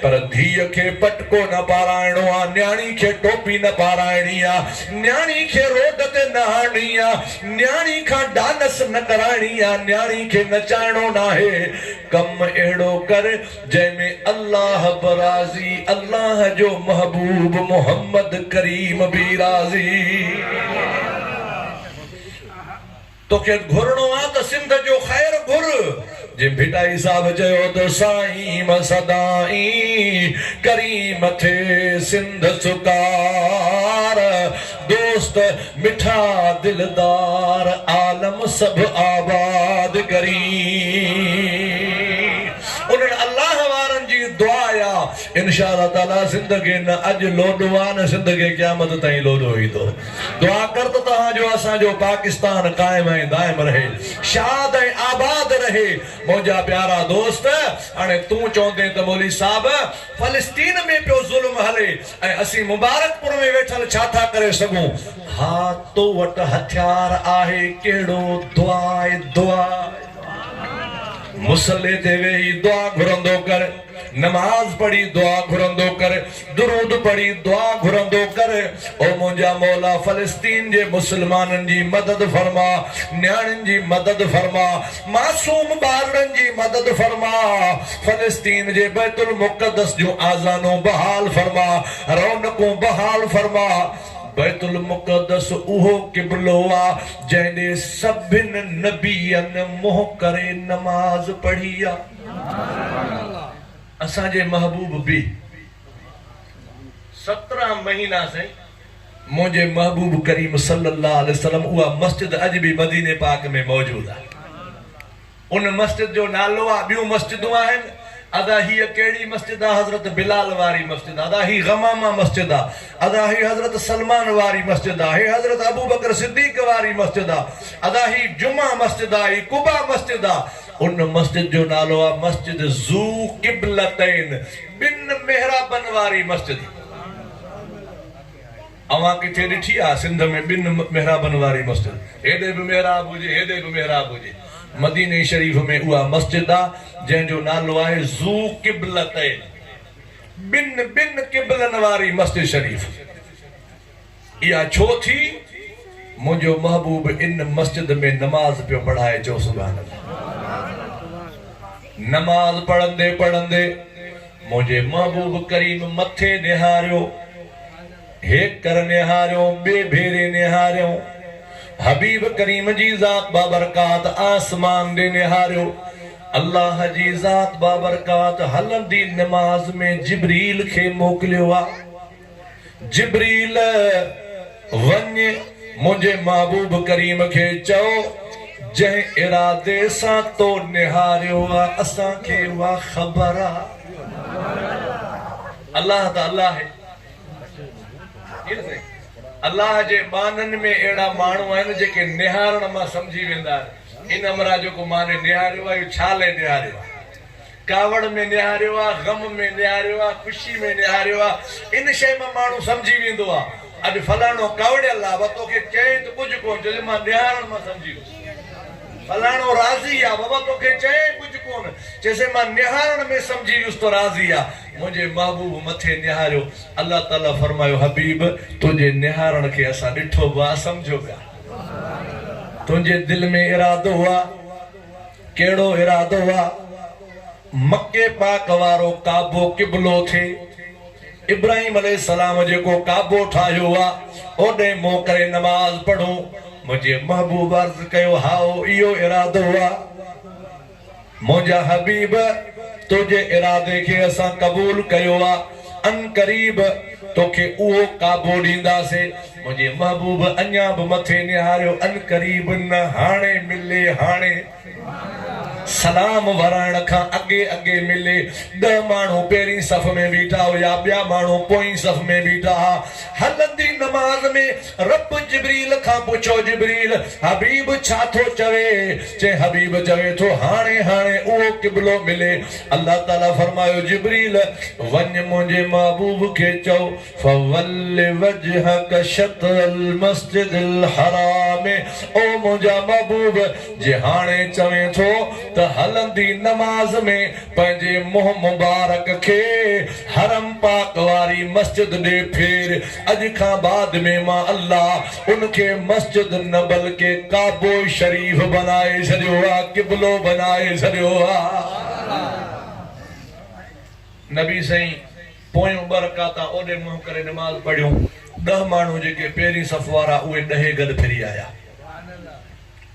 پر ڌيء کي پٽڪو نه پارائڻو آ، نياڻي کي ٽوپي نه پارائڻي آ، نياڻي کي روڊ تي نه آڻڻي آ، نياڻي کان ڊانس نه ڪرائڻي آ، نياڻي کي نچائڻو ناهي. ڪم اهڙو ڪر جنهن ۾ الله به راضي، الله جو محبوب محمد ڪريم به راضي. توکي گهرڻو آ ته سنڌ جو خير گهر. جي ڀٽائي صاحب چيو ته سائين مان سدائين ڪريم ٿئي سنڌ سڪار دوست مٺا دلدار عالم سڀ آباد ڪرين انهن الله وارن جي دعا آ انشاء الله تعالي سنڌ کي نه اڄ لوڏو آ نه سنڌ کي قيامت تائين لوڏو ايندو. دعا ڪر ته توهان جو اسان جو پاڪستان قائم ۽ دائم رهي شاد ۽ آباد رهي منهنجا پيارا دوست هاڻي تون چوندين ته مولوي صاحب فلسطين ۾ پيو ظلم هلي ۽ اسين مبارڪ پور ۾ ويٺل ڇا ٿا ڪري سگهون ها تو وٽ هٿيار آهي ڪهڙو دعا دعا مصلي تي ويهي دعا گهرندو ڪر. نماز پڙهي دعا گهرندو ڪر، درود پڙهي دعا گهرندو ڪر، او منهنجا مولا فلسطين جي مسلمانن جي مدد فرماء، نياڻين جي مدد فرماء، معصوم ٻارڙن جي مدد فرماء، فلسطين جي بيت المقدس جون آذانون بحال فرماء، رونقون بحال فرماء، بيت المقدس اهو قبلو آ جنهن ڏي سڀن نبين منهن ڪري نماز پڙهي آ. اسان جي محبوب به سترهن مهينا سائين منهنجي محبوب ڪريم صلي الله عليه وسلم اها مسجد اڄ به مديني پاڪ ۾ موجود آهي ان مسجد جو نالو آهي ٻيون مسجدون آهن ادا هيء ڪهڙي مسجد آهي حضرت بلال واري مسجد ادا هي غمامه مسجد آهي ادا هي حضرت سلمان واري مسجد آهي هي حضرت ابوبڪر صديق واري مسجد آهي ادا هي جمعه مسجد آهي هي قباء مسجد آهي ان مسجد جو نالو آ مسجد ذو قبلتين ٻن محرابن واري مسجد اوهان ڪٿي ڏٺي آ سنڌ ۾ ٻن محرابن واري مسجد هيڏي به محراب هجي هيڏي به محراب هجي مديني شريف ۾ اها مسجد آ جنهن جو نالو آهي ذو قبلتين ٻن ٻن قبلن واري مسجد شريف. اها ڇو ٿي منهنجو محبوب ان مسجد ۾ نماز پيو پڙهائي چئو سبحان الله نماز پڙهندي پڙهندي منهنجي محبوب ڪريم مٿي نهاريو هيڪ ڪر نهاريو ٻي ڀيري نهاريو حبيب ڪريم جي ذات بابرڪات آسمان ڏي نهاريو الله جي ذات بابرڪات هلندي نماز ۾ جبريل کي موڪليو آ جبريل! وڃ منهنجي محبوب ڪريم کي چئو، جنهن ارادي سان تو نهاريو آ، اسان کي اها خبر آ. الله ته الله آهي. الله جي معنن ۾ اهڙا ماڻهو آهن، جيڪي نهارڻ مان سمجهي ويندا آهن، ان امرا جيڪو ماني نهاريو آ، اهو ڇا لئي نهاريو آ؟ ڪاوڙ ۾ نهاريو آ، غم ۾ نهاريو آ، خوشي ۾ نهاريو آ، ان شيء مان ماڻهو سمجهي ويندو آ، اڄ فلاڻو ڪاوڙيل آ، بابا توکي چيائين ته ڪجهه ڪونه چيو، مان نهارڻ مان سمجهي ويس. فلاڻو راضي آ، بابا توکي چيائين ڪجهه ڪونه، چيسين مان نهارڻ ۾ سمجهي ويس ته راضي آ، منهنجي محبوب مٿي نهاريو، الله تعالي فرمايو حبيب! تنهنجي نهارڻ کي اسان ڏٺو به آ، سمجهيو به آ، تنهنجي دل ۾ ارادو هو آ، ڪهڙو ارادو آ مڪي پاڪ وارو ڪعبو قبلو ٿئي ابراهيم عليه السلام جيڪو ڪعبو ٺاهيو آ اوڏي منهن ڪري نماز پڙهون منهنجي محبوب عرض ڪيو هائو اهو ارادو آ منهنجا حبيب تنهنجي ارادي کي اسان قبول ڪيو آ. عنقريب توکي اهو ڪابو ڏينداسين. منهنجي محبوب اڃا به مٿي نهاريو عنقريب نه هاڻي ملي هاڻي سلام ورائڻ کان اڳي اڳي ملي ڏهه ماڻهو پهرين صف ۾ بيٺا هيا ٻيا ماڻهو پوئين صف ۾ بيٺا ها هلندي نماز ۾ رب جبريل کان پڇيو، جبريل! حبيب ڇا ٿو چوي؟ چي، حبيب چوي ٿو، هاڻي هاڻي اهو قبلو ملي. الله تعاليٰ فرمايو، جبريل! وڃ منهنجي محبوب کي چئو، فول وجهک شطر المسجد الحرام، او منهنجا محبوب! جي هاڻي چوين ٿو ته هلندي نماز ۾ پنهنجي منهن مبارڪ کي حرم پاڪ واري مسجد ڏي ڦير، اڄ کان بعد ۾ مان الله ان کي مسجد نه بلڪه ڪعبو شريف بنائي ڇڏيو آ قبلو بنائي ڇڏيو آ نبي سائين پويون ٻه رڪعتا اوڏي منهن ڪري نماز پڙهيون ڏهه ماڻهو جيڪي پهرين صف وارا اهي ڏهي گڏ ڦري آيا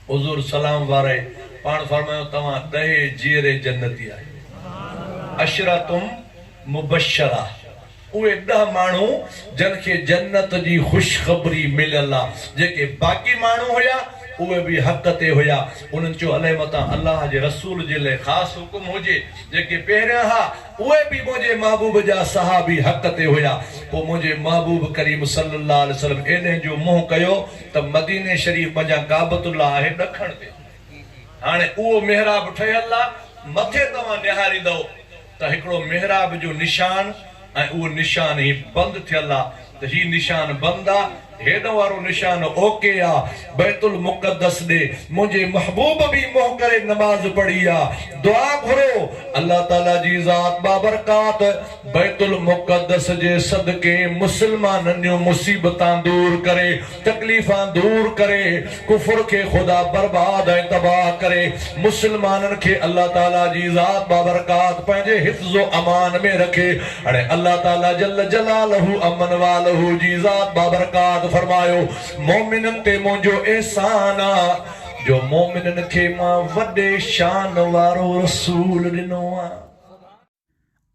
حضور سلام وارائي پاڻ فرمايو توهان ڏهي جيئري جنتي آهيو عشرتم مبشره اهي ڏهه ماڻهو جن کي جنت جي خوشخبري مليل آ، جيڪي باقي ماڻهو هيا اهي به حق تي هيا، انهن چيو الئه متان الله جي رسول جي لئه خاص حڪم هجي، جيڪي پهريان ها اهي به منهنجي محبوب جا صحابي حق تي هيا، پوء منهنجي محبوب ڪريم صلّي الله عليه وسلّم ايڏهن جو منهن ڪيو ته مديني شريف منجهان ڪعبت الله آهي ڏکڻ تي هاڻي اهو محراب ٺهيل آ مٿي توهان نهاريندؤ، ته هڪڙو محراب جو نشان ۽ اهو نشان هي بند ٿيل آ ته هي نشان بند آ هيڏ وارو نشان اوڪي آ بيت المقدس ڏي منهنجي محبوب به منهن ڪري نماز پڙهي آ دعا گهرو الله تعالي جي ذات باورڪات بيت المقدس جي صدقي مسلمانن جون مصيبتان دور ڪري تڪليفان دور ڪري، ڪفر کي خدا برباد ۽ تباهه ڪري، مسلمانن کي الله تعالي جي ذات بابرڪات پنهنجي حفظ و امان ۾ رکي، اڻي الله تعالي جل جلاله امن والهه جي ذات بابرڪات فرمايو، مؤمنن تي منهنجو احسان آ، جو مؤمنن کي مان وڏي شان وارو رسول ڏنو آ.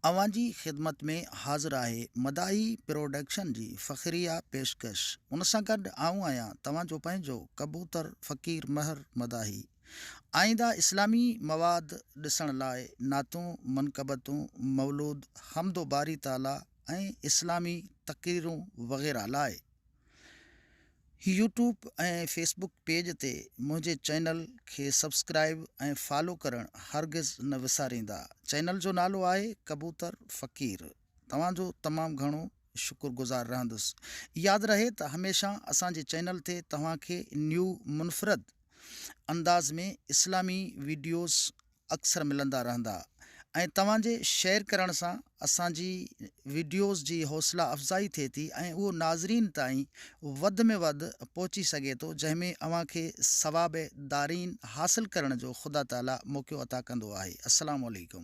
اوهان جي خدمت ۾ حاضر آهي مداحي پروڊڪشن جي فخريه پيشڪش ان سان گڏ آئون آهيان توهان جو پنهنجو ڪبوتر فقير مهر مداحي آئينده اسلامي مواد ڏسڻ لاء نعتون منقبتون مولود حمد و باري تعالي ۽ اسلامي تقريرون وغيره لاء يوٽيوب ۽ فيس بڪ پيج تي منهنجي چينل کي سبسڪرائيب ۽ فالو ڪرڻ هرگز نه وساريندا چينل جو نالو آهي ڪبوتر فقير توهان جو تمام گهڻو شڪر گذار رهندس ياد رهي ته هميشه اسان جي چينل تي توهان کي نيو منفرد انداز ۾ اسلامي ويڊيوز اڪثر ملندا رهندا ۽ توهان جي شيئر ڪرڻ سان اسان جي وڊيوز جي حوصلا افزائي ٿئي ٿي ۽ اهو ناظرين تائين وڌ ۾ وڌ پهچي سگهي ٿو جنهن ۾ اوهان کي ثواب دارين حاصل ڪرڻ جو خدا تعالي موقعو عطا ڪندو آهي السلام عليڪم.